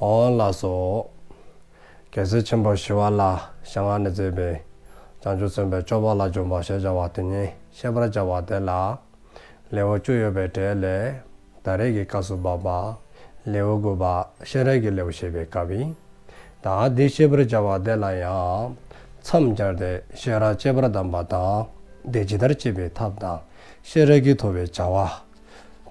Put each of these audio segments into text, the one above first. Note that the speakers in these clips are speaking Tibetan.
འོག་ལ་སོགས། རྒྱལ་སྲས་ཆེན་པོ་ཞི་བ་ལ་ཞག་ལྔ་ནས་བརྩེགས་པའི། བྱང་ཆུབ་སེམས་དཔའི་སྤྱོད་པ་ལ་འཇུག་པ་ཞེས་བྱ་བ་དེ་ཉིད་ཤེས་པར་བྱ་བ་དེ་ལ། ལེའུ་བཅུ་ཡོད་པའི་གྲས་ལས། ད་རེས་ཀྱི་སྐབས་སུ་བབ་པ། ལེའུ་དགུ་པ་གཤེན་རབ་ཀྱི་ལེའུ་ཞེས་པའི་སྐབས་ཡིན། ད་འདི་ཤེས་པར་བྱ་བ་དེ་ལ་ཡང། མཚམས་སྦྱར་ཏེ་ཤེས་རབ་སྤྱད་པར་གདམས་པ་དང། དེ་ཇི་ལྟར་སྤྱད་པའི་ཐབས་དང། ཤེས་རབ་ཀྱིས་ཐོབ་པའི་བྱ་བ།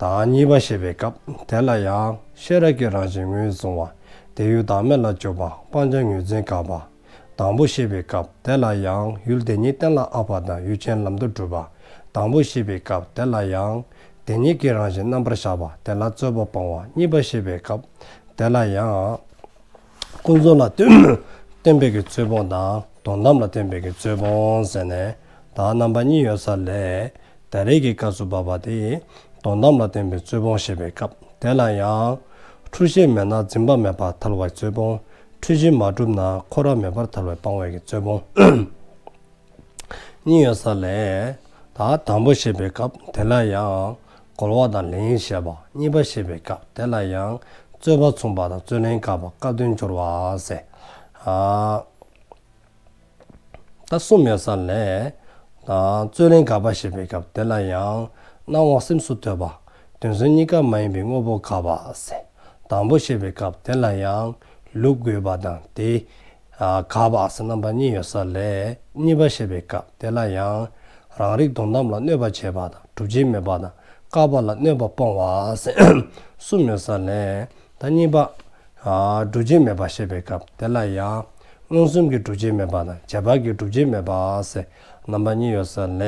དང་གཉིས་པ་ཞེས་པའི་སྐབས་དེ་ལ་ཡང་ཤེས་རབ་ཀྱི་རང་བཞིན་ངོས་བཟུང་བ་དེ་ཡུལ་བདག་མེད་ལ་སྤྱོད་པ་སྤང་བྱ་ངོས་འཛིན་དཀའ་བ། དང་པོ་ཞེས་པའི་སྐབས་དེ་ལ་ཡང་ཡུལ་དེ་ཉིད་གཏན་ལ་ཨ་བ་དང་ཡུལ་ཅན་ལམ་དུ་གྲུབ་པ། དང་པོ་ཞེས་པའི་སྐབས་དེ་ལ་ཡང། དེ་ཉིད་ཀྱི་རང་བཞིན་རྣམ་པར་གཞག་པ་དེ་ལ་རྩོད་པ་སྤང་བ་གཉིས་པ་ཞེས་པའི་སྐབས་དེ་ལ་ཡང། ཀུན་རྫོབ་ལ་བརྟེན་པའི་རྩོད་སྤོང་དང་དོན་དམ་ལ་བརྟེན་པའི་རྩོད་སྤོང་ཟེར་ནས་དག་རྣམ་པ་གཉིས་ཡོད་ས་ལས། ད་རེས་ཀྱི་སྐབས་སུ་བབ་པ་དེ་དོན་དམ་ལ་བརྟེན་པའི་རྩོད་སྤོང་ཞེས་པའི་སྐབས་དེ་ལ་ཡང། འཁྲུལ་ཤེས་མེད་ན་འཛིན་པ་མེད་པར་ཐར་བའི་རྩོད་སྤོང། འཁྲུལ་གཞི་མ་གྲུབ་ན་འཁོར་བ་མེད་པར་ཐར་བའི་སྤང་བའི་རྩོད་སྤོང། གཉིས་ཡོད་ས་ལས། དང་པོ་ཞེས་པའི་སྐབས་དེ་ལ་ཡང། གོལ་བ་དང་ལན་བཤད་པ་གཉིས་པ་བཤད་པའི་སྐབས་དེ་ལ་ཡང་རྩོད་པ་མཚུངས་པ་དང་རྩོད་ལན་བཀག་པ་སྐབས་དོན་སྦྱོར་བ་ཟེར། ད་གསུམ་ཡོད་ས་ལས། རྩོད་ལན་བཀག་པ་བཤད་པའི་སྐབས་དེ་ལ་ཡང་སྣང་བ་སེམས་སུ་ཐོས་པ་དོན་ཟོན་གཉིས་ཀ་མ་ཡིན་པའི་དངོས་པོ་བཀག་པ་ཟེར། དང་པོ་བཤད་པའི་སྐབས་དེ་ལ་ཡང་ལུགས་དགོས་པ་དང་དེ་གབ་བགས་སུ་རྣམ་པ་གཉིས་ཡོད་ས་ལས་གཉིས་པ་བཤད་པའི་སྐབས་དེ་ལ་ཡང། རང་རིག་དོན་དམ་ལ་གནོད་པ་བྱེད་པ་དང་གྲུབ་བྱེད་མེད་པ་དང་བཀག་པ་ལ་གནོད་པ་སྤོང་བ་གསུམ་ཡོད་ས་ལས། ད་གཉིས་པ། གྲུབ་བྱེད་མེད་པ་བཤད་པའི་སྐབས་དེ་ལ་ཡང། མངོན་སུམ་གྱི་གྲུབ་བྱེད་མེད་པ་དང་བྱེད་པ་གྱི་གྲུབ་བྱེད་མེད་པ། རྣམ་པ་གཉིས་ཡོད་ས་ལས།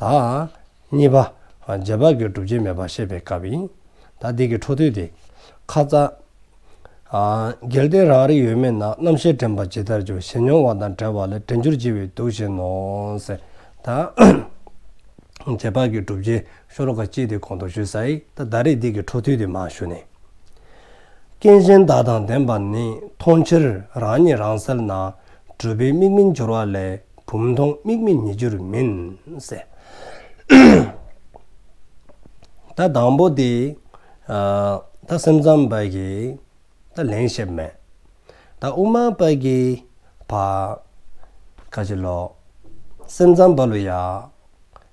ད། གཉིས་པ། རྗེས་དཔག་གི་སྒྲུབ་བྱེད་མེད་པར་བཤད་པའི་སྐབས་ཡིན། ད་འདི་གི་འཕྲོ་མཐུད་དེ། ཁ་རྩ། འགལ་ཏེ་རང་རིག་ཡོད་མེད་ན་རྣམ་ཤེས་དྲན་པ་ཇི་ལྟར་འགྱུར་ཞེས་མྱོང་བ་དང་བྲལ་བ་ལས་དྲན་འགྱུར་ལྕི་བས་སྡུག་བཞིན་ནོ། ཟེར། རྗེས་དཔག་གི་སྒྲུབ་བྱེད་ཤོ་ལོ་ཀ་གཅིག་དེ་གོང་དུ་ཞུས་ས་ཡིས་ད་ད་རེས་འདི་གི་འཕྲོ་མཐུད་དེ་མ་ཞུ་ནས། རྐྱེན་གཞན་དག་དང་ལྡན་པ་ནི་མཐོང་ཕྱིར་རང་ཉིད་རང་གསལ་ན་གྲུབ་པའི་དམིགས་མི་འགྱུར་བ་ལས། བུམ་མཐོང་དམིགས་མེད་ཉིད་འགྱུར་མིན། ད་དང་པོ་དེ། ད་སེམས་ཙམ་པ་གི། ད་ལན་ཞེས་མེད། ད་དབུ་མ་པ་གི། བ། ཁ་ཅིག་ལོ། སེམས་ཙམ་པ་ལོ་ཡ།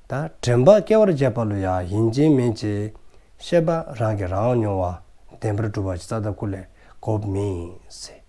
ད་དྲན་པ་སྐྱེ་བར་བྱེད་པ་ལོ་ཡ་ཡིན་གྱི་མིན་གྱི། ཤེས་པ་རང་གིས་རང་མྱོང་བ་བདེན་པར་སྒྲུབ་པ་ཅི་རྩ་ལྟ་སྐུ་ལས་གོ་མི་སྲིད།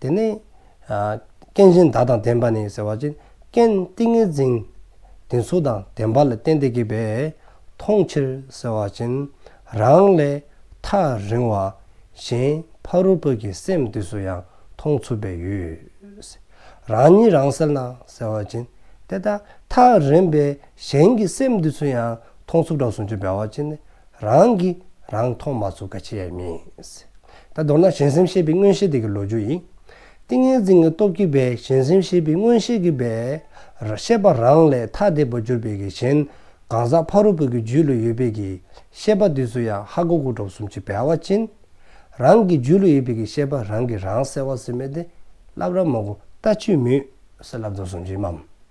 དེ་ནས། རྐྱེན་གཞན་དག་དང་ལྡན་པ་ནི་ཟེར་བ་ཅན། རྐྱེན་ཏིང་ངེ་འཛིན་དེ་ཚོ་དང་ལྡན་པ་ལ་བརྟེན་ཏེ་གྱུར་པས་མཐོང་ཕྱིར་ཟེར་བ་ཅན། རང་ལས་ཐག་རིང་བ་གཞན་ཕ་རོལ་པོ་ཀྱི་སེམས་དུས་སུ་ཡང་མཐོང་ཚུལ་བས་ཡོད། རང་ཉིད་རང་སེལ་ན་ཟེར་བ་ཅན། དེ་ལྟར་ཐག་རིང་བས་གཞན་གྱི་སེམས་དུས་སུ་ཡང་མཐོང་ཚུལ་གྲོགས་སུ་འཇུག་པའི་བ་ཅན། རང་གིས་རང་མཐོང་མ་ཚུགས་ཀ་ཆེ་ཡ་མིན། ད་མདོར་ན་གཞན་སེམས་ཤེས་པའི་མངོན་ཤེས་དེ་གི་ལོ་རྒྱུ་ཡིན། ཏིང་ངེ་འཛིན་གི་སྟོབས་ཀྱིས་པའི་གཞན་སེམས་ཤེས་པའི་མངོན་ཤེས་ཀྱི་པའི། ཤེས་པ་རང་ལས་ཐ་དད་པར་གྱུར་པའི་གི་གཞན། གང་ཟག་ཕ་རོལ་པོ་གི་རྒྱུད་ལ་ཡོད་པའི་གི། ཤེས་པ་དེ་ཚོ་ཡང་ཧ་གོ་གོ་གྲོགས་གསུམ་གྱི་བལ་བ་ཅན། རང་གི་རྒྱུད་ལ་ཡོད་པའི་གི་ཤེས་པ་རང་གིས་རང་གསལ་བ་ཟིན་མེད་དེ། བསླབ་ར་མང་པོ་ལྟ་ཅི་མུས་སུ་བསླབ་དོན་སུམ་ཅུའི་མམ།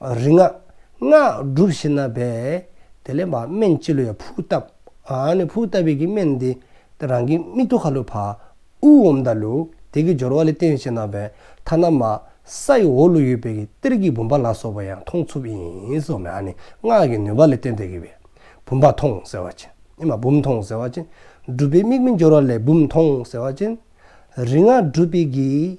རིག་སྔགས། སྔགས་བསྒྲུབས་ཤིང་ན་བས། དེ་ལས་སྨན་སྤྱི་ལོ་ཡང་ཕུག་བཏབ། ནས་ཕུག་བཏབ་པས་ཀྱི་སྨན་འདི། རང་གི་མིག་ཏུ་ཁ་ལུ་བ། དབུགས་འོམ་དང་ལུ། དེ་ཀྱི་སྦྱོར་བ་ལས་བསྟན་ཞིང་ན་བས། ཐ་ན་མ། ས་ཡི་འོག་ལུ་ཡོད་པས་ཀྱི་གཏེར་གྱི་བུམ་པ་ལ་སོགས་པ་ཡང་ཐོང་ཚུབ་ཡིན། སྔགས་ཀྱི་ནུས་པ་ལས་བསྟན་ཏེ་ཀྱི་བས། བུམ་པ་ཐོང་ཟེར་བ་ཅན། བུམ་ཐོང་ཟེར་བ་ཅན། བསྒྲུབས་པས་མིག་མི་འབྱོར་བ་ལས་བུམ་ཐོང་ཟེར་བ་ཅན། རིག་སྔགས་བསྒྲུབས་པས་ཀྱི།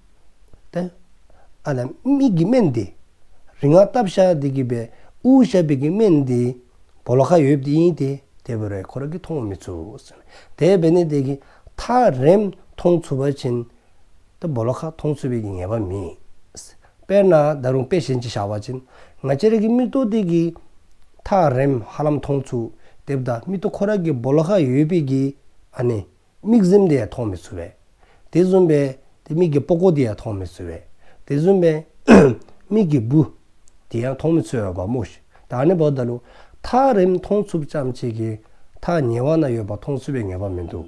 ཏེ། ཨ་ལ་མིག་གི་སྨན་དེ། རིག་སྔགས་བཏབ་བཞག་དེ་གི་པའི་དབུགས་ཞབས་པའི་གི་སྨན་དེ། བོ་ལོ་ཁ་ཡོད་བདེ་ཡིན་ཏེ་དེ་བོ་རའི་འཁོར་གི་མཐོང་བ་མི་ཚུགས། དེ་བས་ནི་དེ་གི་ཐག་རེམ་མཐོང་ཚུལ་བ་བྱིན། ཏེ་བོ་ལོ་ཁ་མཐོང་ཚུལ་བའི་གི་ངེས་པ་མེད། དཔེར་ན་ད་རུང་དཔེ་གཞན་གྱི་བྱ་བ་བྱིན། ང་ཅི་རིགས་ཀྱི་མིག་ཏོ་དེ་གི། ཐག་རེམ་ཧ་ལམ་མཐོང་ཚུལ་དེ་བདག་མིག་ཏོ་འཁོར་གི་བོ་ལོ་ཁ་ཡོད་པའི་གི། ཨ་ནི། མིག་གཟིམ་དེ་ཡང་མཐོང་མི་ཚུ་བས། དེ་གཟུམ་པས། དེ་མིག་གི་པོ་ཀོ་དེ་ཡང་མཐོང་མི་ཚུ་བས། དེ་གཟུམ་པས། མིག་གི་བུ། དེ་ཡང་མཐོང་མི་ཚུ་བས་བ་མོ། ད་ནི་བོ་ད་ལུ། ཐག་རིམ་མཐོང་ཚུབ་ཙམ་ཅིག་གིས། ཐག་ཉེ་བ་ན་ཡོད་པ་མཐོང་ཚུ་བའི་ངེས་པ་མི་འདུག།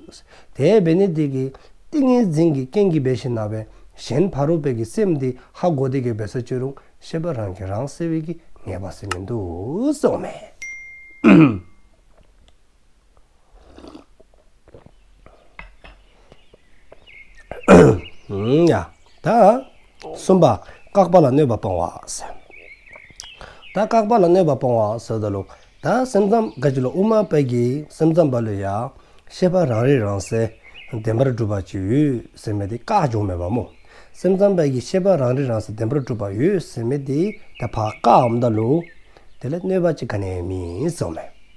དེ་བས་ནི་དེ་གི། ཏིང་ངེ་འཛིན་གྱི་རྐྱེན་གྱིས་བས་ཤིང་ན་བས། གཞན་ཕ་རོལ་པོ་གི་སེམས་དེ་ཧ་གོ་དེ་གི་བས་ས་བཅོས་རུང་ཤེས་པ་རང་གིས་རང་སེལ་བས་ཀྱི་ངེས་པ་སེ་མི་འདུག་སོགས་སྨྲས། གསུམ་པ། བཀག་པ་ལ་གནོད་པ་སྤོང་བ། ད་བཀག་པ་ལ་གནོད་པ་སྤོང་བ་སོགས་ད་ལོ། ད་སེམས་ཙམ་དགའ་བྱེད་ལ་དབུ་མ་དཔལ་གྱི་སེམས་ཙམ་པ་ལས་ཡང། ཤེས་པ་རང་རིག་རང་གསལ་བདེན་པར་གྲུབ་པ་ཅིག་ཡོད་ཟེར་མེད་དེ་བཀག་བྱུང་མེད་པར་མོ། སེམས་ཙམ་དཔལ་གྱི་ཤེས་པ་རང་རིག་རང་གསལ་བདེན་པར་གྲུབ་པ་ཡོད་ཟེར་མེད་དེ་ད་བཀག་འམ་ད་ལོ། དེ་ལ་གནོད་པ་ཅི་ག་ནས་མིན་སོགས་མེད།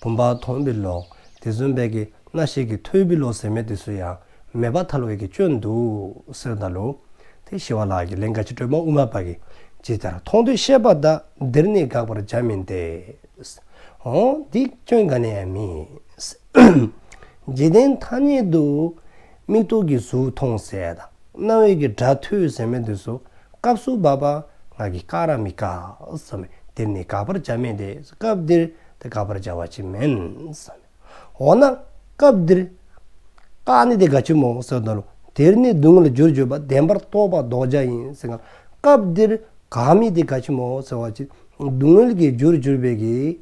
བུམ་པ་དོང་བི་ལོ། དེ་ཟོན་བས་ཀྱི་སྣ་ཤེས་ཀྱི་ཐོད་བི་ལོ་ཟེར་མེད་དུ་སུ་ཡང་མེད་པ་ཐལ་བས་ཀྱི་སྤྱོད་འདུག་གསེར་མདའ་ལུང། དེ་ཞི་བ་ལགས་ཀྱི་ལན་ག་ཅི་སྒྲོལ་མ་དབུ་མ་པ་གིས་ཇི་ལྟར་མཐོང་དུ་བཤད་པ་དག་འདིར་ནི་དགག་པར་བྱ་མིན་ཏེ། འོ་འདི་སྐྱོན་ག་ནས་ཡང་མིན། འཇིག་རྟེན་ཐ་སྙད་དུ། མིག་ཐོག་གི་གཟུགས་མཐོང་ཟད་དང་རྣ་བས་ཀྱི་སྒྲ་ཐོས་ཟེར་མེད་དུ་སུ་སྐབས་སུ་བབ་པ་ངག་གིས་བཀག་ར་མི་བཀག་སོམས་པས་འདིར་ནི་དགག་པར་བྱ་མིན་ཏེ་སྐབས་འདིར། དེ་དགག་པར་བྱ་བ་ཅིས་མིན། འོ་ན་སྐབས་འདིར། བཀག་ནི་དེ་དགག་ཆོས་མང་བོ་སོགས་དང། དེར་ནི་སྡུག་བསྔལ་ལ་རྒྱུར་བརྗོད་པ་བདེན་པར་རྟོགས་པ་ལྡོག་བྱ་ཡིན་ཟེར། སྐབས་འདིར་བཀག་མི་དེ་དགག་ཆོས་མང་བོ་ཟེར་བ་ཅི། སྡུག་བསྔལ་གྱི་རྒྱུར་གྱུར་པའི་གི།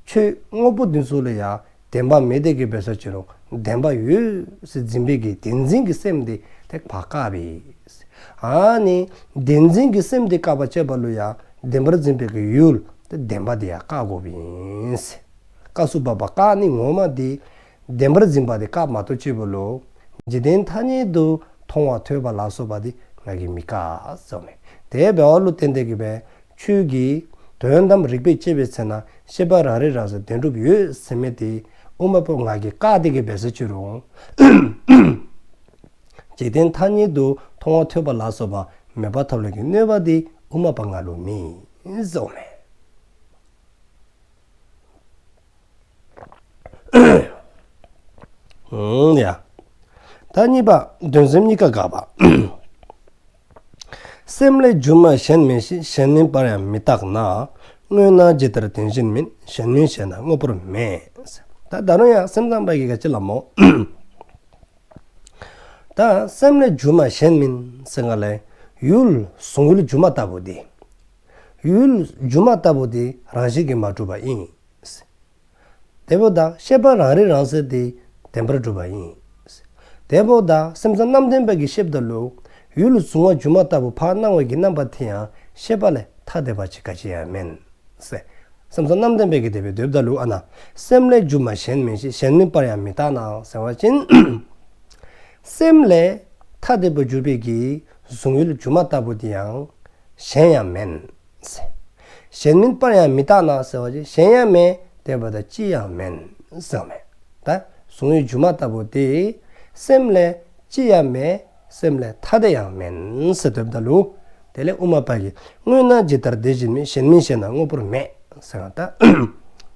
ཆོས་དངོས་པོ་འདི་ཚོ་ལ་ཡང་བདེན་པ་མེད་དེ་གི་བས་སོ་ཅི་རུང་བདེན་པ་ཡོད་སེ་འཛིན་པའི་གི་དེ་འཛིན་གི་སེམས་དེ་དེ་བཀག་པའི། ནི། བདེན་འཛིན་གྱི་སེམས་དེ་བཀག་པ་བཅད་པ་ལུས་ཡང་བདེན་པར་འཛིན་པའི་གི་ཡུལ། བདེན་པ་དེ་ཡང་བཀག་འགོག་པ་ཡིན། བཀག་སུ་བབ་པ་བཀག་ནི་ངོ་མ་དེ། བདེན་པར་འཛིན་པ་དེ་བཀག་མ་ཐོབ་བཅད་པའི་ལུས། འཇིག་རྟེན་ཐ་སྙད་དུ་མཐོང་བ་ཐོས་པ་ལ་སོགས་པ་དེ་ང་གིས་མི་བཀག། དེ་བས་བློ་གཏན་བདེ་གི་བའི་ཆོས་ཀྱི། དོན་དམ་རིག་པས་དཔྱད་པའི་ཚེ་ན་ཤེས་པ་རང་རིག་རང་སོ་བདེན་གྲུབ་ཡོད་སེམས་མེད་དེ། དབུ་མ་པོ་ང་གིས་བཀག་སྟེ་གི་བའི་ཟེར་ཆོས་རུང། འཇིག་རྟེན་མཐའ་ཉིད་དུ་མཐོང་བ་ཐོས་པ་ལ་སོགས་པ་མོས་པ་ཐབས་ལམ་གྱི་གནོད་པ་འདི་དབུ་མ་པ་ལྔ་ལུགས་མིན། སོགས་མེད། ཡང། གཉིས་པ། འདོད་སེམས་གཉིས་ཀ་འགགས་པ། སེམས་ལས་སྒྱུ་མ་གཞན་མིན་ཞིང་གཞན་ནུས་པར་ཡང་མི་བརྟགས་ན། དངོས་སྣང་ཇི་ལྟར་དེ་བཞིན་མིན་གཞན་ནུས་བྱས་ན་དངོས་པོར་མེད། ད་ལྟ་ཡང་སེམས་ཙམ་པ་ཡི་གེ་ལ་སྤྱི་ལམ་མོ། ད་སེམས་ལས་སྒྱུ་མ་གཞན་མིན་ཟེར་ང་ལས། ཡུལ་བཟུང་ཡུལ་སྒྱུ་མ་ལྟ་བུ་འདི། ཡུལ་སྒྱུ་མ་ལྟ་བུ་འདི་རང་བཞིན་གྱིས་མ་གྲུབ་པ་ཡིན། དེ་བོ་ད་ཤེས་པ་རང་རིག་རང་གསལ་འདི་བདེན་པར་གྲུབ་པ་ཡིན། དེ་བོ་ད་སེམས་ཙམ་རྣམ་བདེན་དཔལ་གྱི་ཤེས་བདག་ལུགས། ཡུལ་ལ་གཟུང་བ་སྒྱུ་མ་ལྟ་བུ་བར་སྣང་བས་ཀྱི་རྣམ་པ་དེ་ཡང་ཤེས་པ་ལས་ཐ་དད་པ་ཅི་ག་ཅི་ཡང་མིན། སེམས་སམ་རྣམ་བདེན་པས་ཀྱི་དེ་བས་དོའི་བརྡ་ལུགས་ཨ་ན། སེམས་ལས་སྒྱུ་མ་གཞན་མིན་ཞིང་གཞན་མིན་པར་ཡང་མི་བརྟགས་ནའང་ཟེར་བ་བཞིན། སེམས་ལས་ཐ་དད་པར་གྱུར་པས་ཀྱི་གཟུང་ཡུལ་སྒྱུ་མ་ལྟ་བུ་དེ་ཡང་གཞན་ཡང་མིན། གཞན་མིན་པར་ཡང་མི་བརྟགས་ནའང་ཟེར་བ་བཞིན་གཞན་ཡང་མེད་དེ་བས་དོ་ཅི་ཡང་མིན། གཟུང་ཡུལ་སྒྱུ་མ་ལྟ་བུ་དེ་སེམས་ལས་ཅི་ཡང་མེད། སེམས་ལས་ཐ་དད་ཡང་མིན། ཟེར་དོན་འདི་ལོ། དེ་ལས་དབུ་མ་པ་ཡིས་དངོས་སྣང་ཇི་ལྟར་འདི་བཞིན་མིན་གཞན་མིན་ཞེ་ན་དངོས་པོར་མེད། ཟེར་བ་ལྟར།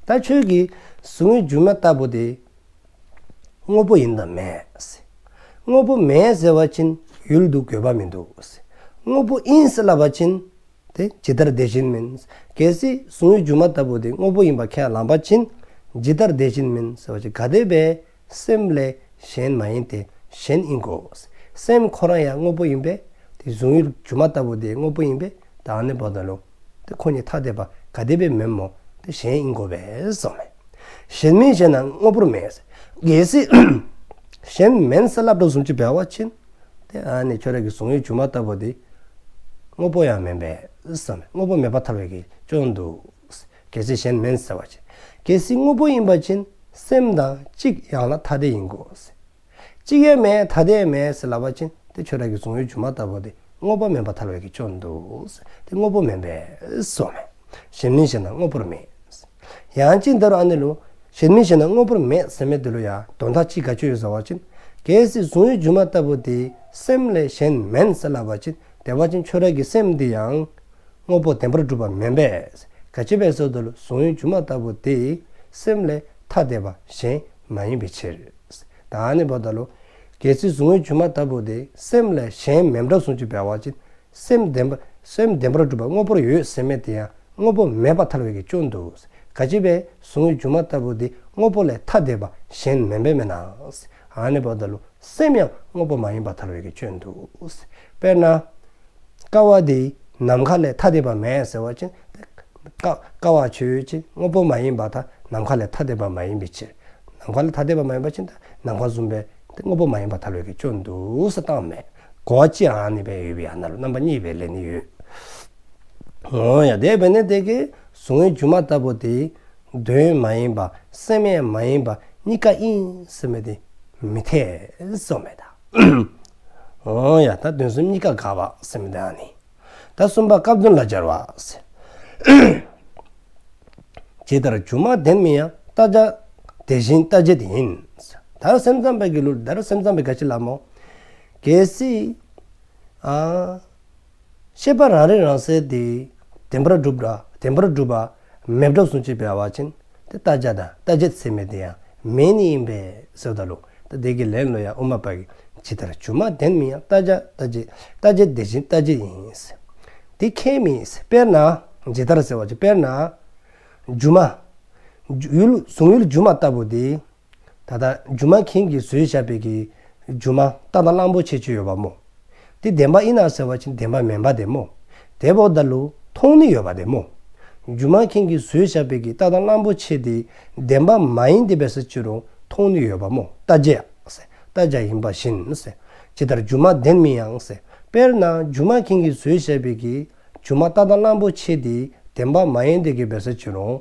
ད་ཁྱོད་ཀྱིས་ཟུག་རྔུའི་རྒྱུ་མ་ལྟ་བུ་དེ། དངོས་པོ་ཡིན་དང་མེད། དངོས་པོ་མེད་ཟེར་བ་ཕྱིན་ཡུལ་འདུག་དགོས་པ་མི་འདུག། དངོས་པོ་ཡིན་ཟེར་ལབ་པ་ཕྱིན། དེ་ཇི་ལྟར་དེ་བཞིན་མིན། གལ་སྲིད་ཟུག་རྔུའི་རྒྱུ་མ་ལྟ་བུ་དེ་དངོས་པོ་ཡིན་པར་ཁས་བླངས་པ་ཕྱིན། ཇི་ལྟར་དེ་བཞིན་མིན་ཟེར་བ་ཅི་ག་དེ་བས། སེམས་ལས་གཞན་མ་ཡིན་ཏེ་གཞན་ཨིན་གོ། སེམས་ཁོ་རང་ཡང་དངོས་པོ་ཡིན་པས་དེ་གཟུང་ཡུལ་སྒྱུ་མ་ལྟ་བུ་དེ་དངོས་པོ་ཡིན་པས་དེ་ཨ་ནི་བོ་དང་རླུང་དེ་ཁོ་གཉིས་ཐ་དད་པ་ག་དེ་བས་མིན་མོ་དེ་གཞན་ཨིན་གོ་བས་སོ། གཞན་མིན་གཞན་ན་དངོས་པོར་མེད། གལ་སྲིད་གཞན་མིན་སེམས་ལ་འགྲོ་གསུམ་གྱི་བར་བ་ཕྱིན་ཏེ་ཨ་ནི་ཁྱོད་རང་གི་གཟུང་ཡུལ་སྒྱུ་མ་ལྟ་བུ་དེ་དངོས་པོ་ཡང་མིན་པས་སོ། དངོས་པོ་མེད་པ་ཐ་བས་ཀྱི་ཅོ་འདུག། གལ་སྲིད་གཞན་མིན་ཟེར་བ་ཅན། གལ་སྲིད་དངོས་པོ་ཡིན་པ་ཅན། སེམས་དང་གཅིག་ཡང་ན་ཐ་དད་ཡིན་དགོས་ཟེར། གཅིག་ཡོད་མེད་ཐ་དད་མེད་ཟེར་ལབ་པ་ཅན་དེ་ཆོས་རང་གི་གཟུང་ཡོད་སྒྱུ་མ་ལྟ་བུ་དེ་དངོས་པོ་མིན་པ་ཐར་བའི་གེགས་བྱུང་འདུག་ཟེར་དེ་དངོས་པོ་མིན་པས་སོ། གཞན་མིན་ཞེ་ན་དངོས་པོར་མིན། ཡང་ཅི་འདི་རུ་ཨ་ནི་ལོ། གཞན་མིན་ཞེ་ན་དངོས་པོར་མེད་ཟེར་མེད་འདི་ལོ་ཡ་དོན་དག་གཅིག་ག་ཆོད་ཡོད་ཟེར་བ་ཅན། གལ་སྲིད་གཟུང་ཡོད་སྒྱུ་མ་ལྟ་བུ་དེ་སེམས་ལས་གཞན་མིན་ཟེར་ལབ་པ་ཅན་དེ་བ་ཅན་ཆོས་རང་གི་སེམས་འདི་ཡང། དངོས་པོ་བདེན་པར་སྒྲུབ་པ་མིན་པས་དགའ་བྱེད་པའི་ཚུལ་དུ་གཟུང་ཡུལ་སྒྱུ་མ་ལྟ་བུ་དེ་སེམས་ལས་ཐ་དད་པ་གཞན་མ་ཡིན་པའི་ཕྱིར། ད་ཨ་ནི་བོ་ད་ལོ། གལ་སྲིད་གཟུང་ཡུལ་སྒྱུ་མ་ལྟ་བུ་དེ་སེམས་ལས་གཞན་མིན་པར་གཟུང་བྱེད་བས་བ་ཅིན་སེམས་བདེན་པ་སེམས་བདེན་པར་སྒྲུབ་པ་དངོས་པོར་ཡོད་སེམས་མེད་དེ་ཡང་དངོས་པོ་མེད་པ་ཐལ་བའི་གེགས་བཅོ་འདུག་དགའ་བྱེད་པས་གཟུང་ཡུལ་སྒྱུ་མ་ལྟ་བུ་དེ་དངོས་པོ་ལས་ཐ་དད་པ་གཞན་མིན་པས་མེད་ན་ཨ་ནི་བོ་ད་ལོ་སེམས་ཡང་དངོས་པོ་མ་ཡིན་པ་ཐལ་བའི་གེགས་བཅོ་འདུག་དཔེར་ན། དཀའ་བ་འདི་ནམ་མཁའ་ལས་ཐ་དད་པ་མེད་ཟེར་བ་ཅན་དེ། དཀའ་བ་ཆོས་ཅན་དངོས་པོ་མ་ཡིན་པ་དག་ནམ་མཁའ་ལས་ཐ་དད་པ་མ་ཡིན་པའི་ཕྱིར། ནམ་མཁའ་ལས་ཐ་དད་པ་མ་ཡིན་པ་ཅན་དག་ནམ་མཁའ་གསུམ་པའི་དངོས་པོ་མ་ཡིན་པ་དག་ལས་ཀྱི་སྐྱོན་བསྡུས་སུ་བཏང་མེད་གོ། ཅི་འང་ནི་བས་ཡོད་པའི་ཡང་ན་ལ་རྣམ་པ་གཉིས་པའི་ལས་ནི་ཡོད། ངོ་ཡང་འདས་པས་ནི་དེ་ཀའི་གཟུང་བའི་སྒྱུ་མ་ལྟ་བུ་དེ། དོན་མ་ཡིན་པ་སེམས་ཡང་མ་ཡིན་པ་གཉིས་ཀ་ཡིན་ཟེར་མོད་དེ་མི་འཐད་སོགས་མེད་དཱ། ཨོ་ཡ། ད་དོན་གསུམ་གཉིས་ཀ་དགག་བ་སེམས་མི་དག་ནི། ད་གསུམ་པ་སྐབས་དོན་ལ་སྦྱར་བ། ཇི་ལྟར་སྒྱུ་མ་བདེན་མིན་ཡང་བལྟ་བྱ། དེ་བཞིན་བལྟ་བྱེད་དེ་ཡིན། ད་སེམས་ཙམ་པའི་གི་ལུགས་འདིར་སེམས་ཙམ་པའི་ག་ཤེད་ལམ་མོ། གལ་སྲིད། ཨ། ཤེས་པ་རང་རིག་རང་གསལ་དེ། བདེན་པར་བསྒྲུབ། བདེན་པར་བསྒྲུབ། མེད་སྒྲོ་གསུང་བྱེད་པའི་བ་ཅན། དེ་ལྟ་བྱ་དང་ལྟ་བྱེད་ཚད་མེད་དེ་ཡང་མེད་ནི་ཡིན་པས་སོ་ད་ལུགས་ད་བདེ་གི་ལན་ལོ་ཡང་དབུ་མ་པ་གིས་ཇི་ལྟར་བྱུང་མ་བདེན་མིན་ཡང་ལྟ་བྱ་ལྟ་བྱེད་ལྟ་བྱེད་དེ་བཞིན་ལྟ་བྱེད་ཡིན། དེ་ཁས་མིན། དཔེར་ན། ཇི་ལྟར་ཟེར་བ་ཅི་དཔེར་ན། སྒྱུ་མ། གཟུང་ཡུལ་སྒྱུ་མ་ལྟ་བུ་དེ། ད་ལྟ་སྒྱུ་མ་མཁན་གྱིས་བཟོས་བཞག་པའི་གི་སྒྱུ་མ་རྟ་དང་གླང་པོ་ཆེ་བཅོས་ཡོད་པ་མོ། དེ་བདེན་པ་ཨི་ན་ཟེར་བ་ཅི་བདེན་པ་མིན་པ་དེ་མོ། དེ་བོ་ད་ལུ་མཐོང་ནི་ཡོད་པ་དེ་མོ། སྒྱུ་མ་མཁན་གྱིས་བཟོས་བཞག་པའི་གི་རྟ་དང་གླང་པོ་ཆེ་དེ་བདེན་པ་མ་ཡིན་ཏེ་བས་སུ་ཅི་རུང་མཐོང་ནི་ཡོད་པ་མོ་རྟ་བརྒྱས་རྟ་བརྒྱ་ཡིན་པ་བཞིན་ཇི་ལྟར་སྒྱུ་མ་བདེན་མིན་ཡང་དཔེར་ན་སྒྱུ་མ་མཁན་གྱིས་བཟོས་བཞག་པའི་གི་སྒྱུ་མ་རྟ་དང་གླང་པོ་ཆེ་དེ་བདེན་པ་མ་ཡིན་ཏེ་གི་བས་སུ་ཅི་རུང།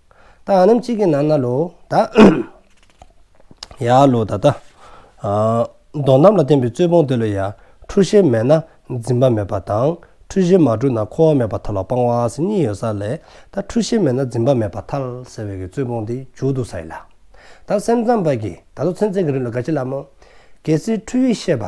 ད་ཨ་རྣམས་གཅིག་གི་ནང་ན་ལོ་ད་ཡ་ལོ་ད་ད་མདོ་རྣམས་ལ་བརྟེན་པའི་རྩོད་སྤོང་དེ་ལོ་ཡ་འཁྲུལ་ཤེས་མེད་ན་འཛིན་པ་མེད་པ་དང་འཁྲུལ་ཤེས་མ་གྲུབ་ན་འཁོར་བ་མེད་པ་མཐའ་ལ་སྤང་བ་ཟེར་གཉིས་ཡོད་ས་ལས་ད་འཁྲུལ་ཤེས་མེད་ན་འཛིན་པ་མེད་པ་མཐའ་ཟེར་བའི་གི་རྩོད་སྤོང་དེ་འཇུག་འདུག་ས་ཡིན་ལ། ད་སེམས་ཙམ་པ་གི་ད་ལོ་ཚན་རྩལ་གྱི་རིགས་ལ་དགའ་ཆེ་ལ་མོ། གལ་སྲིད་འཁྲུལ་བའི་ཤེས་པ།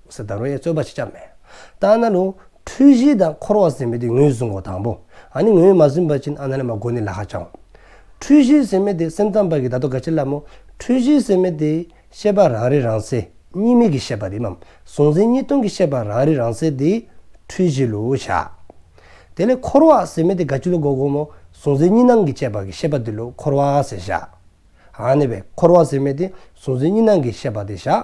སི་ད་རོ་ཡའི་རྩོད་པ་ཆེ་ཆགས་མེད། ཏཱ་ན་ལུང། འཁྲུལ་གཞི་དང་འཁོར་བ་ཟིན་མེད་དེ་ངོས་བཟུང་གོ་དང་པོ། ཨ་ནི་ངོས་མ་བཟུང་བར་ཕྱིན་ཨ་ན་ལ་མ་གོ་ནི་ལ་ཧ་ཅང་འོང། འཁྲུལ་གཞི་ཟིན་མེད་དེ་སེམས་ཙམ་པ་གི་ད་དོ་ག་ཆེ་ལ་མོ། འཁྲུལ་གཞི་ཟིན་མེད་དེ། ཤེས་པ་རང་རེ་རང་སེ་གཉིས་མེད་ཀྱི་ཤེས་པ་རིམ་མམ་གཟུང་འཛིན་གཉིས་སྟོང་གི་ཤེས་པ་རང་རེ་རང་སེ་དེ། འཁྲུལ་གཞི་ལོ་བྱ། དེ་ལས་འཁོར་བ་ཟིན་མེད་དེ་ག་ཅི་ལོ་གོ་གོ་མོ་གཟུང་འཛིན་གཉིས་སྣང་གི་བཅས་པ་གི་ཤེས་པ་དེ་ལོ་འཁོར་བ་ཟེ་བྱ། ཨ་ནི་བས་འཁོར་བ་ཟིན་མེད་དེ་གཟུང་འཛིན་གཉིས་སྣང་གི་ཤེས་པ་དེ་བྱ།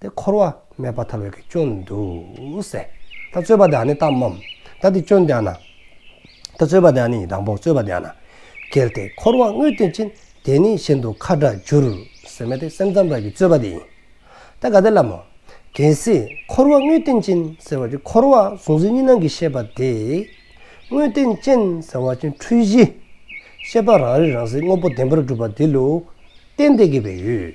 ཏེ། འཁོར་བ་སྨད་པ་ཐར་བའི་སྐྱོན་དུ་ཟད། ད་རྩོད་པ་དེའང་ནི་གཏམ་མམ། ད་འདི་སྐྱོན་དེའང་ན། ད་རྩོད་པ་དེའང་ནི་དང་པོ་རྩོད་པ་དེའང་ན། གལ་ཏེ་འཁོར་བ་དངོས་བསྟན་ཅན་དེ་ནི་གཞན་དུ་ཁ་དྲག་འགྱུར། ཟེར་མེད་དེ་སེམས་ཙམ་རང་གི་རྩོད་པ་དེ་ཡིན། ད་ག་དེ་ལམ་མོ། གལ་སྲིད་འཁོར་བ་དངོས་བསྟན་ཅན་ཟེར་བ་ཅན་འཁོར་བ་གཟུང་འཛིན་གཉིས་སྣང་གི་ཤེས་པ་དེ། དངོས་བསྟན་ཅན་ཟེར་བ་ཅན་འཁྲུལ་གཞི། ཤེས་པ་རང་རིག་རང་གསལ་དངོས་པོ་བདེན་པར་སྒྲུབ་པ་དེ་ལུགས་བསྟན་ཏེ་དགེ་བའི་ཡུལ།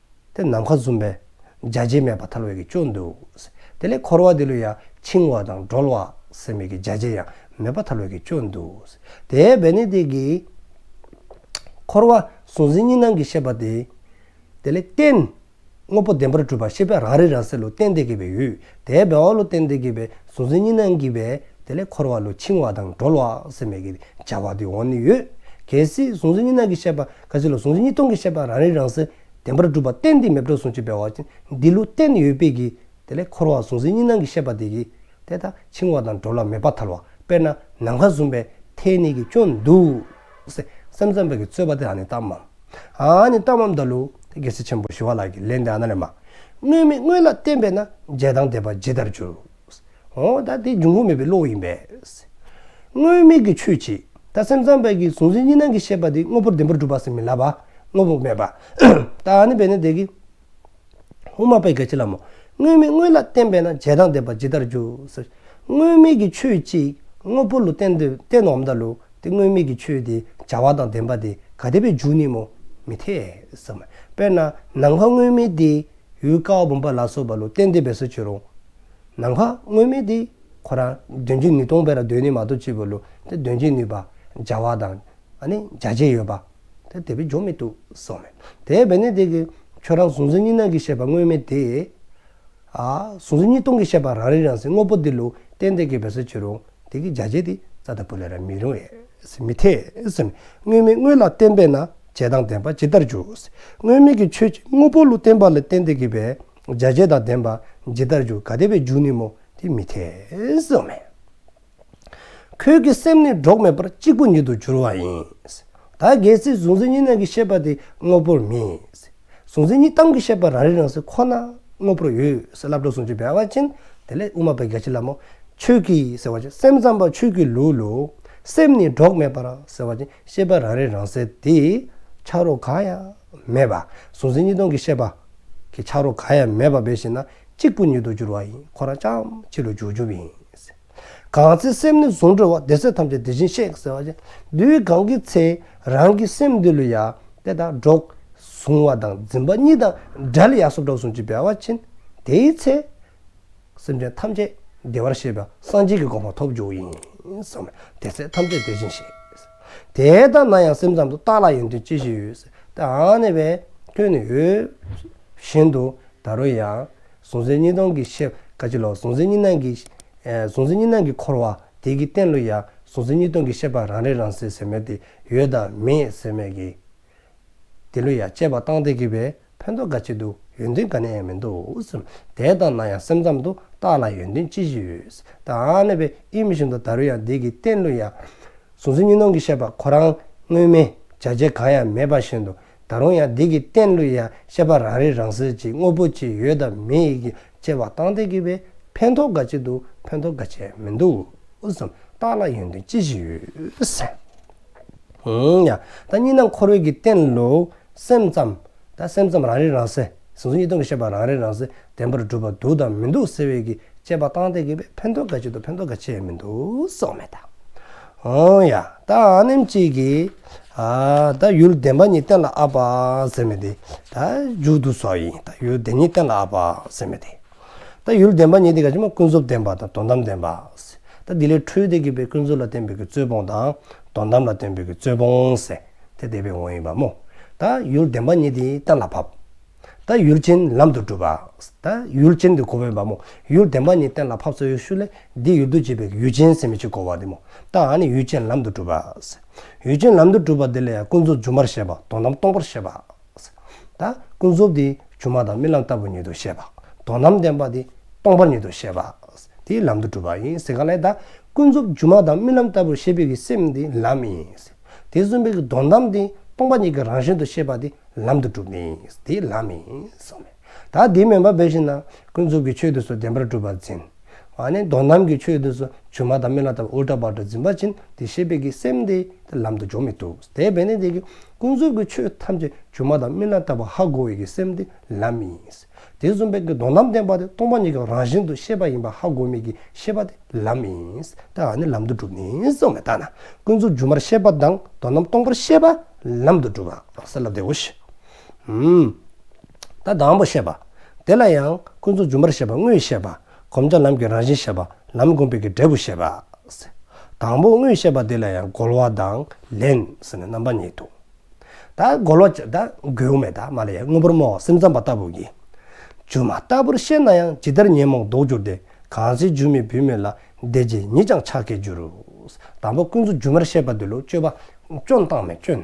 དེ་ནམ་མཁའ་འཛུམ་པས་འཇའ་བྱེད་མེད་པར་ཐར་བའི་གི་ཅོ་འདུག། དེ་ལས་འཁོར་བ་དེ་ལུས་ཡང་འཆིང་བ་དང་སྒྲོལ་བ་སེམས་མེད་ཀྱི་འཇའ་བྱེད་ཡང་མེད་པར་ཐར་བའི་གི་ཅོ་འདུག། དེའི་བས་ནི་དེ་གི། འཁོར་བ་གཟུང་འཛིན་གཉིས་སྣང་གི་ཤེས་པ་དེ། དེ་ལས་བརྟེན། དངོས་པོ་བདེན་པར་གྲུབ་པར་ཤེས་པས་རང་རིག་རང་གསལ་ལུས་རྟེན་འདི་སྐྱེས་པའི་ཡུལ། དེའི་བས་འོག་ལུས་རྟེན་འདི་སྐྱེས་པའི་གཟུང་འཛིན་གཉིས་སྣང་གི་བས་དེ་ལས་འཁོར་བ་ལུས་འཆིང་བ་དང་སྒྲོལ་བ་སེམས་མེད་ཀྱི་འཇའ་བ་དེ་འོག་ནི་ཡོད། གལ་སྲིད་གཟུང་འཛིན་གཉིས་སྣང་གི་ཤེས་པ་ཁ་ཟས་ལ་ཟུང་འཇུག་གཉིས་སྟོང་གི་ཤེས་པ་རང་རིག་རང་གསལ་བདེན་པར་གྲུབ་པ་གཏན་དེའི་མེད་གྲོལ་ཟུང་འཇུག་བས་བ་འདི་ལུགས་གཏན་ནས་ཡོད་དཔེ་གྱིས། དེ་ལས་འཁོར་བ་ཟུང་འཛིན་གཉིས་སྣང་གི་ཤེས་པ་དེ་གྱིས། དེ་དག་འཆིང་བ་དང་འགྲོ་ལ་མེད་པ་ཐར་བ་དཔེར་ན་ནམ་མཁའ་ཟུམ་པའི་མཐའི་གནས་ཀྱི་སྐྱོན་འདུག། སེམས་ཙམ་པ་གྱིས་རྩོད་པ་དེ་ཨ་ནི་གཏམ་མམ། ཨ་ཨ་ནི་གཏམ་མམ་ལྟ་ལུགས་དེ་རྒྱལ་སྲིད་ཆེན་པོ་ཞི་བ་ལགས་ཀྱིས་ལན་འདི་ཨ་ན་ལས་མ། དངོས་མེད་དངོས་ལ་བསྟན་པས་ན་འཇལ་དང་དད་པ་ཇི་ལྟར་འགྱུར། འོ་ད་དེ་འབྱུང་ཁུངས་མེད་པའི་བློ་ཡིན་པས། དངོས་མེད་ཀྱི་ཆོས་ཀྱིས་ད་སེམས་ཙམ་པའི་གིས་གཟུང་འཛིན་གཉིས་སྣང་གི་ཤེས་པ་དེ་དངོས་པོར་བདེན་པར་སྒྲུབ་པ་སེམས་མི་ལ་བ་དངོས་པོ་མེད་པ། ད་ནི་བས་ནས་དེ་གིས་དབུ་མ་པའི་གལ་ཆེ་ལམ་མོ། དངོས་མེད་དངོས་ལ་བརྟེན་པས་ན་རྗེས་དང་ལྡན་པ་ཇི་ལྟར་འགྱུར། དངོས་མེད་ཀྱི་ཆོས་ཀྱིས་དངོས་པོ་ལུགས་བསྟན་དུ་བསྟན་ནོ་འམ་ད་ལུགས་དེ་དངོས་མེད་ཀྱི་ཆོས་དེ་བྱ་བ་དང་ལྡན་པ་དེ་ག་བདེ་བའི་འཇུག་གནས་མོ། མི་འཐད། དཔེར་ན་ནམ་མཁའ་དངོས་མེད་དེ་ཡུལ་ཀ་བ་བུམ་པ་ལ་སོགས་པ་ལུགས་བསྟན་དུ་བས་སུ་འགྱུར་རོ། ནམ་མཁའ་དངོས་མེད་དེ་ཁོ་རང་དོན་གྱི་ནུས་སྟོང་པས་ན་དོན་ནི་མ་གཏོགས་ཅི་དགོས་ལུགས་དེ་དོན་གྱི་ནུས་པ་བྱ་བ་དང་ནི་བྱ་བྱེད་ཡོད་པ་དེ་དེ་བས་འཇོག་མི་ཐུབ་གསུངས་མོད། དེ་བས་ན་དེ་གི་ཁྱོད་རང་གཟུང་འཛིན་གཉིས་སྣང་གི་ཤེས་པ་དངོས་མེད་དེ། གཟུང་འཛིན་གཉིས་སྟོང་གི་ཤེས་པ་རང་རིག་རང་གསལ་དངོས་པོ་འདི་ལུགས་གཏན་བདེ་སྐྱེ་བས་སོ་ཅི་རུང་དེ་གི་བྱ་བྱེད་དེ་རྩ་དང་པོ་ལས་ར་མི་རུང་བས་མི་འཐད། དངོས་མེད་དངོས་ལ་བརྟེན་པས་ན་བྱེད་དང་ལྡན་པ་ཇི་ལྟར་འཇུག། དངོས་མེད་ཀྱི་ཆོས་ཀྱི་དངོས་པོ་ལུགས་བརྟེན་པ་ལས་གཏན་བདེ་སྐྱེ་བས་རྒྱ་ཆེན་དང་ལྡན་པ་ཇི་ལྟར་འཇུག་ག་དེ་བས་འཇུག་ནུས་མོ་དེ་མི་འཐད་གསུངས་པ་ཡིན། ཁྱོད་ཀྱི་སེམས་ནི་གྲོགས་མེད་པར་གཅིག་པུ་ཉིད་དུ་གྱུར་བ་ཡིན། ད་གལ་སྲིད་གཟུང་འཛིན་གཉིས་སྣང་གི་ཤེས་པ་དེ་དངོས་པོར་མིན། གཟུང་འཛིན་གཉིས་སྟོང་གི་ཤེས་པ་རང་རིག་རང་གཟུགས་ཁོ་ན་དངོས་པོར་ཡོད་སེ་བླ་བྲོ་ཟུང་འཇུག་བེ་བ་ཅན་དེ་ལས་དབུ་མ་པའི་རྒྱ་ཆེ་ལ་མོ་ཁྱོད་ཀྱི་ཟེར་བ་ཅན་སེམས་ཙམ་པ་ཁྱོད་ཀྱི་ལུས་ལུས་སེམས་ནི་གྲོགས་མེད་པར་ཟེར་བ་ཅན་ཤེས་པ་རང་རིག་རང་གསལ་དེ་ཆགས་རོ་གང་ཡང། མེད་པ། གཟུང་འཛིན་གཉིས་སྟོང་གི་ཤེས་པ། གི་ཆགས་རོ་ག་ཡང་མེད་པ་བས་ཤེ་ན་གཅིག་པུ་ཉིད་དུ་འགྱུར་བ་ཡིན་ཁོ་རང་ཅག་ཕྱི་རུ་འཇུག་འཇུག་པ་ཡིན། གང་ཚེ་སེམས་ནི་གཟུང་གྲོལ་བ་བདེ་གསལ་ཐམས་ཅད་དེ་བཞིན་གཤེགས་ཟེར་བ་བཞིན་དུའི་གང་གི་ཚེ་རང་གི་སེམས་འདི་ལུས་ཡང་དེ་དང་འགྲོགས། གཟུང་བ་དང་འཛིན་པ་གཉིས་དང་བྲལ་ཡང་སོ་འགྲོགས་གཟུང་ཅི་བས་བ་ཕྱིན་དེའི་ཚེ། སེམས་ཅན་ཐམས་ཅད་བདེ་བར་གཤེགས་པའི་སངས་རྒྱས་ཀྱི་དགོངས་པ་ཐོབ་འཇུག་ཡིན་བསམས་ནས་དེ་ཚེ་ཐམས་ཅད་བདེ་ཅིང་ཞེས། དེ་ལྟར་ན་ཡང་སེམས་ཙམ་དུ་བརྟགས་ལ་ཡོན་ཏན་ཅི་ཞིག་ཡོད། དེའང་ནི་བས་མཐུན་ནི་ཡོད། བཞིན་དུ་ད་རུང་ཡང། གཟུང་འཛིན་གཉིས་སྟོང་གི་ཕྱིར་ཁ་ཅིག་ལ་གཟུང་འཛིན་གཉིས་སྣང་གི། གཟུང་འཛིན་གཉིས་སྣང་གིས་འཁོར་བ་དེ་གི་རྟེན་ལོ་ཡང་གཟུང་འཛིན་གཉིས་སྟོང་གི་ཤེས་པ་རང་རིག་རང་གསལ་ཟེར་མོད་དེ་ཡོད་དམ་མེད་ཟེར་མོད་ཀྱི། དེ་ལོས་ཡང་དཔྱད་པ་བཏང་སྟེ་གི་བའི་ཕན་ཐོགས་འགའ་བྱེད་འདུག་ཡོན་ཏན་ག་ནས་ཡང་མི་འདུག་དེ་ལྟ་ན་ཡང་སེམས་ཙམ་དུ་བརྟགས་ལ་ཡོན་ཏན་ཅི་ཞིག་ཡོད་དམ་ནད་པའི་ཨི་མི་བཞིན་དུ་ད་རུང་ཡང་བདེ་གི་རྟེན་ལོས་ཡང། གཟུང་འཛིན་གཉིས་སྣང་གི་ཤེས་པ་ཁོ་རང་དངོས་མིན་བྱ་བྱེད་གང་ཡང་མེད་པ་བཞིན་དུ་ད་རུང་ཡང་བདེ་གི་རྟེན་ལོས་ཡང་ཤེས་པ་རང་རིག་རང་གསལ་གྱི་དངོས་པོ་ཅི་ཡོད་དམ་མེད་ཡིན་གྱི་དཔྱད་པ་བཏང་སྟེ་གི་བའི་ཕན་ཐོགས་འགའ་བྱེད་འདུག་ཕན་ཐོགས་འགའ་བྱས་མི་འདུག་བརྟགས་ལ་ཡོན་ཏན་ཅི་ཞིག་ཡོད། ཡང་ད་གཉིས་སྣང་འཁོར་བའི་གི་རྟེན་ལོ། སེམས་ཙམ། ད་སེམས་ཙམ་རང་རིག་རང་གསལ། ཟུང་ཟུང་གཉིས་སྟོང་གི་ཤེས་པ་རང་རིག་རང་གསལ་བདེན་པར་གྲུབ་པ་འདུག་དང་མི་འདུག་ཟེར་བའི་གི་དཔྱད་པ་སྟངས་དེ་གི་བས་ཕན་ཐོག་ག་ཅིག་ཏུ་ཕན་ཐོག་ག་ཆེ་ཡང་མི་འདུག་སོགས་མེད་ད། ཡང་ད་ཨཱ་ནེམ་གཅིག་གི། ད་ཡུལ་བདེན་པ་གཉིས་གཏན་ལ་ཨཱ་པ་ཟེར་མེད་དེ། ད་མཇུག་ཏུ་སོགས་ཡིན་ད་ཡུལ་བདེན་གཉིས་གཏན་ལ་ཨཱ་པ་ཟེར་མེད་དེ། ད་ཡུལ་བདེན་པ་ཉིད་དེ་ག་ཅི་མ་ཀུན་རྫོབ་བདེན་པ་དང་དོན་དམ་བདེན་པ། ད་དེ་ལས་འཕྲོས་ཏེ་གྱེས་པའི་ཀུན་རྫོབ་ལ་བརྟེན་པའི་གྱི་རྩོད་སྤོང་དང་དོན་དམ་ལ་བརྟེན་པའི་གྱི་རྩོད་སྤོང། དེ་བདེ་བའི་དབང་ཡིན་པ་མོ། ད་ཡུལ་བདེན་པ་ཉིད་དེ་གཏན་ལ་ཕབ། ད་ཡུལ་ཅན་ལམ་དུ་སྒྲུབ། ད་ཡུལ་ཅན་དེ་གོ་བས་པ་མོ། ཡུལ་བདེན་པ་ཉིད་གཏན་ལ་ཕབ་སོགས་ཡུལ་ཤུགས་ལས་འདི་ཡུལ་དུ་བྱེད་པའི་གྱི་ཡུལ་ཅན་སེམས་མི་བྱེད་གོ་བ་དེ་མོ། ད་འང་ནི་ཡུལ་ཅན་ལམ་དུ་སྒྲུབ། ཡུལ་ཅན་ལམ་དུ་སྒྲུབ་པ་དེ་ལས་ཀུན་རྫོབ་སྒྱུ་མར་བཤད་པ་དོན་དམ་སྟོང་པར་བཤད་པ། ད་ཀུན་རྫོབ་དེ་ཆུང་མ་དང་རྨི་ལམ་ལྟ་བུར་ཉིད་དུ་ཤེས་པ། དོན་དམ་བདེན་པ་དེ་སྟོང་པར་ཉིད་དུ་ཤེས་པ། དེའི་ལམ་དུ་གྲུབ་པ་ཡིན། གང་ལས་ད་ཀུན་རྫོབ་ཆུང་མ་དང་རྨི་ལམ་ལྟ་བུར་ཤེས་པའི་གི་སེམས་དེ་ལམ་ཡིན། དེ་གསུམ་པའི་གི་དོན་དམ་དེ་སྟོང་པ་ཉིད་ཀྱི་རང་བཞིན་དུ་ཤེས་པ་དེ་ལམ་དུ་གྲུབ་ནས་དེའི་ལམ་ཡིན། ད་དེ་མིན་པར་བས་ཤིན་ན་ཀུན་རྫོབ་ཀྱི་ཆོས་དེ་སོགས་བདེན་པར་གྲུབ་པར་འཛིན། དོན་དམ་གྱི་ཆོས་དེ་སོགས་ཆུང་མ་དང་རྨི་ལམ་ལྟ་བུར་འུར་སྒྲ་བར་དུ་འཛིན་པ་བཞིན་དེ་ཤེས་པའི་གི་སེམས་དེ་ལམ་དུ་འཇོག་མི་ཐུབ། དེས་བས་ནི་དེ་ཀུན་རྫོབ་ཀྱི་ཆོས་ཐམས་ཅད་སྒྱུ་མ་དང་མི་སྣང་ལྟ་བུ་ཧ་གོ་བས་ཀྱི་སེམས་དེ་ལམ་ཡིན། དེ་གསུམ་པས་ཀྱི་སྡོམ་ལམ་བསྟན་པ་དེ་སྟོང་པ་ཉིད་ཀྱི་རང་བཞིན་དུ་ཤེས་པ་ཡིན་པ་ཧ་གོ་མེད་ཀྱི་ཤེས་པ་དེ་ལམ་ཡིན། དེ་ཡང་ནི་ལམ་དུ་གྲུབ་ནས་སོ་མེད་ལྟ་ན་ཀུན་རྫོབ་སྒྱུ་མར་ཤེས་པ་དང་དོན་རྣམ་སྟོང་པར་ཤེས་པ་ལམ་དུ་གྲུབ་པ་གསལ་ལ་བདེའོ། ཞེས། ད་དང་པོ་བཤད་པ། དེ་ལ་ཡང་ཀུན་རྫོབ་སྒྱུ་མར་ཤེས་པ་དངོས་ཤེས་པ། བསྒོམ་བྱ་ལམ་གྱི་རང་བཞིན་བཤད་པ། ལམ་བསྒོམ་པའི་གྱི་འབྲས་བུ་བཤད་པ། དང་པོ་དངོས་བཤད་པ་འདི་ལ་ཡང་རྒོལ་བ་དང་ལེན་ཟེར་ནས་རྣམ་པ་གཉིས་འདུག། ད་རྒོལ་བ་ད་རྒོལ་བ་མེད། མ་ལ་ཡང་དངོས་པོར་སྨྲ་བ་སེམས་ཙམ་པ་ལྟ་བུ་ཡིན། སྒྱུ་མ་ལྟ་བུར་ཤེས་ན་ཡང་ཇི་ལྟར་ཉོན་མོངས་ལྡོག་འགྱུར་ཏེ་གང་ཚེ་སྒྱུ་མའི་བུད་མེད་ལ་འདས་རྗེས་ཉིད་ཀྱང་ཆགས་སྐྱེས་འགྱུར། དང་པོ་ཀུན་རྫོབ་སྒྱུ་མར་བཤད་པ་འདི་ལོ་སྤྱོད་པ་སྐྱོན་བཏང་མེད་སྐྱོན།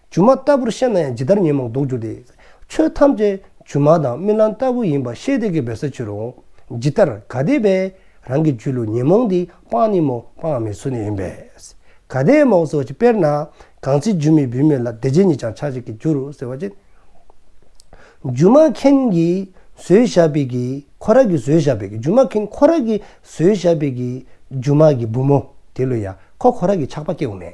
སྒྱུ་མ་ལྟ་བུར་ཤེས་ན་ཡང་ཇི་ལྟར་ཉོན་མོངས་ལྡོག་འགྱུར་ཏེ། ཆོས་ཐམས་ཅད་སྒྱུ་མ་དང་རྨི་ལམ་ལྟ་བུ་ཡིན་པར་ཤེས་བདེ་གི་འབད་ས་ཆོད་རུང། ཇི་ལྟར་ག་དེས་པས་རང་གི་རྒྱུད་ལུས་ཉོན་མོངས་འདི་སྤངས་ནི་མོ་སྤངས་མི་སྲུ་ནི་ཡིན་པས། ག་དེས་མོ་སོ་ཅི་དཔེར་ན། གང་ཚེ་སྒྱུ་མའི་བུད་མེད་ལ་བདེ་བྱེད་ཉིད་ཀྱང་ཆགས་བྱེད་ཀྱི་རྒྱུར་ཟེར་བ་བཞིན། སྒྱུ་མ་མཁན་གྱིས་བཟོས་བཞག་པའི་གྱི་ཁོ་ར་གི་བཟོས་བཞག་པའི་གྱི་སྒྱུ་མ་མཁན་ཁོ་ར་གི་བཟོས་བཞག་པའི་གྱི་སྒྱུ་མ་གྱི་བུ་མོ་དེ་ལོས་ཡ་ཁོ་ཁོ་ར་གི་ཆགས་པ་སྐྱེ་བོ་མེད།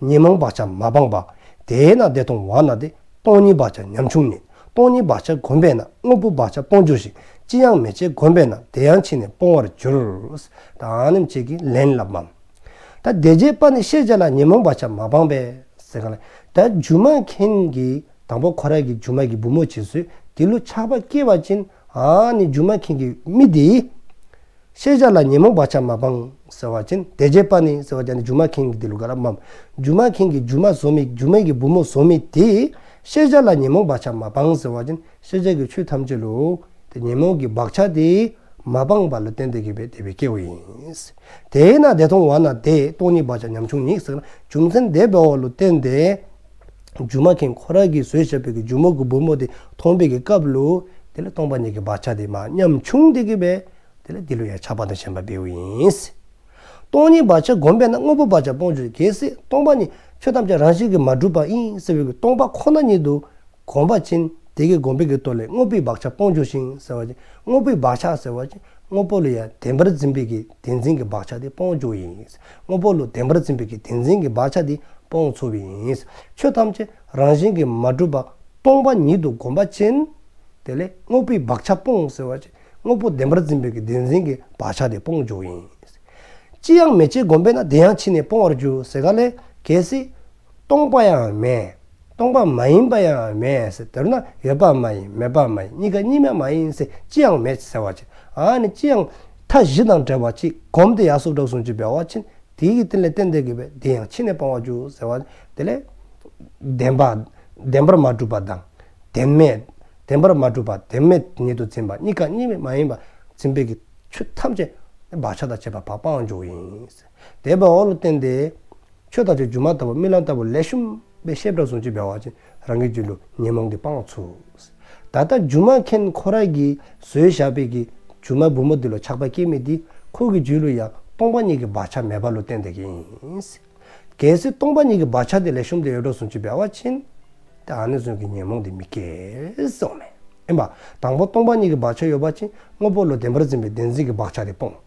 ཉེས་མང་བག་ཆགས་མ་སྤངས་པ། དེས་ན་བདེ་སྟོང་བར་སྣང་སྟེ་སྟོང་ཉིད་བག་ཆགས་ཉམ་ཆུང་མེད། སྟོང་ཉིད་བག་ཆགས་གོམས་པས་ན་དངོས་པོ་བག་ཆགས་སྤོང་འགྱུར་ཞིང་ཅི་ཡང་མེད་ཅེས་གོམས་པས་ན་དེ་ཡང་ཕྱིས་ནས་སྤོང་བར་འགྱུར། དང་ནི་བཅས་ཀྱིས་ལན་བསླབ་བམ། ད་བདེ་བྱེད་དཔའ་ནི་ཤེས་བྱ་ལ་ཉེས་མང་བག་ཆགས་མ་སྤངས་པས། ད་སྒྱུ་མ་མཁན་གྱི་དང་པོ་ཁོ་ར་གྱི་སྒྱུ་མ་གྱི་བུ་མོ་བྱས་ཚུལ་དེ་ལུས་ཆགས་པ་སྐྱེ་བ་ཅན། ཨ་ནི་སྒྱུ་མ་མཁན་གྱི་མི་དེའི། ཤེས་བྱ་ལ་ཉོན་མོངས་པ་ཆ་མ་སྤངས། ཟེར་བ་ཅན། དེ་རྗེས་པ་ནི། ཟེར་བ་ཅན་ནི་སྒྱུ་མ་མཁན་གྱི་དེ་ལུགས་ག་ར་འམ། སྒྱུ་མ་མཁན་གྱིས་སྒྱུ་མ་བཟོ་མི་སྒྱུ་མ་གིས་བུ་མོ་བཟོ་མི་དེས། ཤེས་བྱ་ལ་ཉོན་མོངས་པ་ཆ་མ་སྤངས་ཟེར་བ་ཅན། ཤེས་བྱ་གི་ཆོས་ཐམས་ཅད་ལུས། དེ་ཉོན་མོངས་ཀྱི་བག་ཆགས་དེས། མ་སྤངས་པ་ལ་བརྟེན་ཏེ་གྱེས་པའི་དད་པའི་སྐྱེ་བོ་ཡིན། དེས་ན་དེ་མཐོང་བ་ན་དེས་སྟོང་ཉིད་བག་ཆགས་ཉམ་ཆུང་ཉིད་བསགས་ན་བྱུང་མཚན་དད་པའི་བ་ལུ་བརྟེན་ཏེ། རྒྱུ་མ་མཁན་ཁོ་རང་གིས་བཟོས་བྱས་པའི་རྒྱུ་མོ་གི་བུ་མོ་དེ་མཐོང་པའི་སྐབས་ལོ་དེ་ལ་སྟོང་པ་ཉིད་ཀྱི་བག་ཆགས་དེ་མ་ཉམས་ཆུང་དེ་གི་བས་དེ་ལ་དེ་ལོ་ཡང་ཆགས་པ་དང་ཞེན་པ་བེའུ་ཡིན། སྟོང་ཉིད་བག་ཆགས་བསྒོམས་པས་ན་དངོས་པོ་བག་ཆགས་སྤོང་ཆོས་གལ་སྲིད་སྟོང་པ་ཉིད་ཆོས་ཐམས་ཅད་རང་བཞིན་གྱིས་མ་གྲུབ་པ་ཡིན་ཟེར་བའི་གི་སྟོང་པ་ཁོ་ན་ཉིད་དུ་གོམས་པ་ཕྱིན་དེ་གི་བསྒོམས་པའི་གི་ལྟོ་ལས་དངོས་པོའི་བག་ཆགས་སྤོང་ཆོས་ཤིང་ཟེར་བ་ཅིག་དངོས་པོའི་བག་ཆགས་ཟེར་བ་ཅིག་དངོས་པོ་ལ་ཡང་བདེན་པར་འཛིན་པའི་གི་བདེན་འཛིན་གྱི་བག་ཆགས་དེ་སྤོང་ཆོས་ཡིན། དངོས་པོ་ལུས་བདེན་པར་འཛིན་པའི་བདེན་འཛིན་གྱི་བག་ཆགས་འདི་སྤོང་ཚུལ་ཡིན། ཆོས་ཐམས་ཅད་རང་བཞིན་གྱིས་མ་གྲུབ་པ་སྟོང་པ་ཉིད་དུ་བསྒོམ་པ་ཅན། དེ་ལས་དངོས་པོའི་བག་ཆགས་སྤོང་ཟེར་བ། དངོས་པོ་བདེན་པར་འཛིན་པའི་བདེན་འཛིན་གྱི་བག་ཆགས་འདི་སྤོང་ཕྱོགས་ཡིན། ཅི་ཡང་མི་བྱེད་བསྒོམ་པས་ན་དེ་ཡང་ཕྱིས་ནས་སྤོང་བར་འགྱུར་ཟེར་ག་ལས་གལ་སྲིད། སྟོང་པ་ཡང་མེད། སྟོང་པ་མ་ཡིན་པ་ཡང་མེད་ཟེར་འདོད་ན་ཡོད་པ་མ་ཡིན་མེད་པ་མ་ཡིན་གཉིས་ཀ་གཉིས་མེད་མ་ཡིན་ཟེར་ཅི་ཡང་མེད་ཟེར་བ་ཅི་ཨཱ་ནི་ཅི་ཡང་མཐའ་བཞི་དང་བྲལ་བ་ཅིག་བསྒོམ་སྟེ་ཡར་སོགས་དྲག་ཟུང་ཅིག་འབད་བ་ཕྱིན་དེའི་གི་སྟན་ལས་སྟན་འདེབས་དགོས་པས་དེ་ཡང་ཕྱི་ནས་སྤང་བར་འགྱུར་ཟེར་བ་དེ་ལས། བདེན་པ། བདེན་པར་མ་གྲུབ་པ་དང། བདེན་མེད། བདེན་པར་མ་གྲུབ་པ་བདེན་མེད་ཉིད་དུ་འཛིན་པ་གཉིས་ཀ་གཉིས་མེད་མ་ཡིན་པ་འཛིན་པའི་གི་ཆོས་ཐམས་ཅད་བག་ཆགས་དང་བཅས་པ་བག་སྤང་བར་འགྱུར་བ་ཡིན། དད་པའི་འོག་ལ་བརྟེན་ཏེ། ཆོས་དང་ཆོས་བརྒྱུད་མ་ལྟ་བུ་རྨི་ལམ་ལྟ་བུ་ལས་ཤུམ་པའི་ཤེས་བྲག་ཟུང་ཆུ་བེ་བ་བཞིན་རང་གི་རྒྱུད་ལུས་ཉོན་མོངས་ཀྱི་སྤང་བ་ཚུགས། ད་ལྟ་སྒྱུ་མ་མཁན་ཁོ་རང་གིས་བཟོས་བཞག་པའི་གི་སྒྱུ་མ་སྦུབ་མོ་འདི་ལ་ཆགས་པ་སྐྱེ་མེད་དེ་ཁོ་གི་རྒྱུད་ལུས་ཡང་སྟོང་པ་ཉིད་ཀྱི་བག་ཆགས་མེད་པ་ལུས་བརྟེན་ཏེ་གི་ཡིན། གལ་སྲིད་སྟོང་པ་ཉིད་ཀྱི་བག་ཆགས་དེ་ལས་ཤུམ་དེ་ཡོད་བྲག་ཟུང་ཆུ་བེ་བ་བཞིན་ཏེ་ཨ་ནི་ཟུང་གི་ཉོན་མོངས་དེ་མི་སྐྱེ་སོགས་མེད། ཨེ་མ། དང་པོ་སྟོང་པ་ཉིད་ཀྱི་བག་ཆགས་ཡོད་བ་ཅིང་དངོས་པོ་ལུས་བདེན་པར་འཛིན་པའི་བདེན་འཛིན་གྱི་བག་ཆགས་དེ་སྤོང།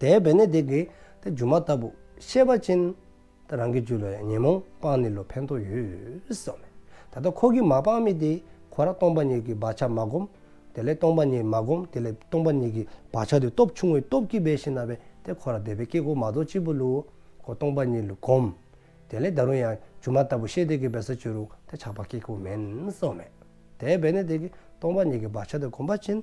དེའི་བེ་ནི་དེ་གི་དེ་སྒྱུ་མ་ལྟ་བུ་ཤེས་པ་ཅན། རང་གི་རྒྱུད་ལ་ཡང་ཉོན་མོངས་སྤངས་ནི་ལོ་ཕན་ཐོགས་ཡོད་སོ། ད་ལྟ་ཁོ་གི་མ་སྤངས་མི་དེ་ཁོ་རང་སྟོང་པ་ཉིད་ཀྱི་བག་ཆགས་མ་བསྒོམ། དེ་ལས་སྟོང་པ་ཉིད་མ་བསྒོམ་དེ་ལས་སྟོང་པ་ཉིད་ཀྱི་བག་ཆགས་དེ་སྟོབས་ཆུང་བའི་སྟོབས་ཀྱིས་བས་ཤིང་ན་བས་དེ་ཁོ་རང་དེ་བས་སྐྱེ་གོ་མ་གཏོགས་གཅིག་པུ་ལོ། ཁོ་སྟོང་པ་ཉིད་ལ་བསྒོམ། དེ་ལས་ད་རུང་ཡང་སྒྱུ་མ་ལྟ་བུ་ཤེས་དེ་གི་བས་ས་ཆུ་རུང་དེ་ཆགས་པ་སྐྱེ་གོ་མིན་སོ། དེའི་བེ་ནི་དེ་གི་སྟོང་པ་ཉིད་ཀྱི་བག་ཆགས་དེ་བསྒོམ་པ་ཅན།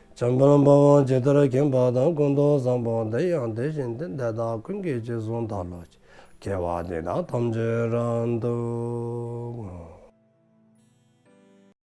བྱམས་པ་རྣམ་པ་དབང་ཇི་ལྟར་མཁྱེན་པ་དང་ཀུན་རྟོག་བཟང་པོ་འདི་ཡང་དེ་བཞིན་དུ་འདི་དག་ཀུན་གྱི་རྗེས་བཟུང་དང་བློ་ཅི་སྐྱེ་བ་དེ་དག་ཐམས་ཅད་རང་འདུག།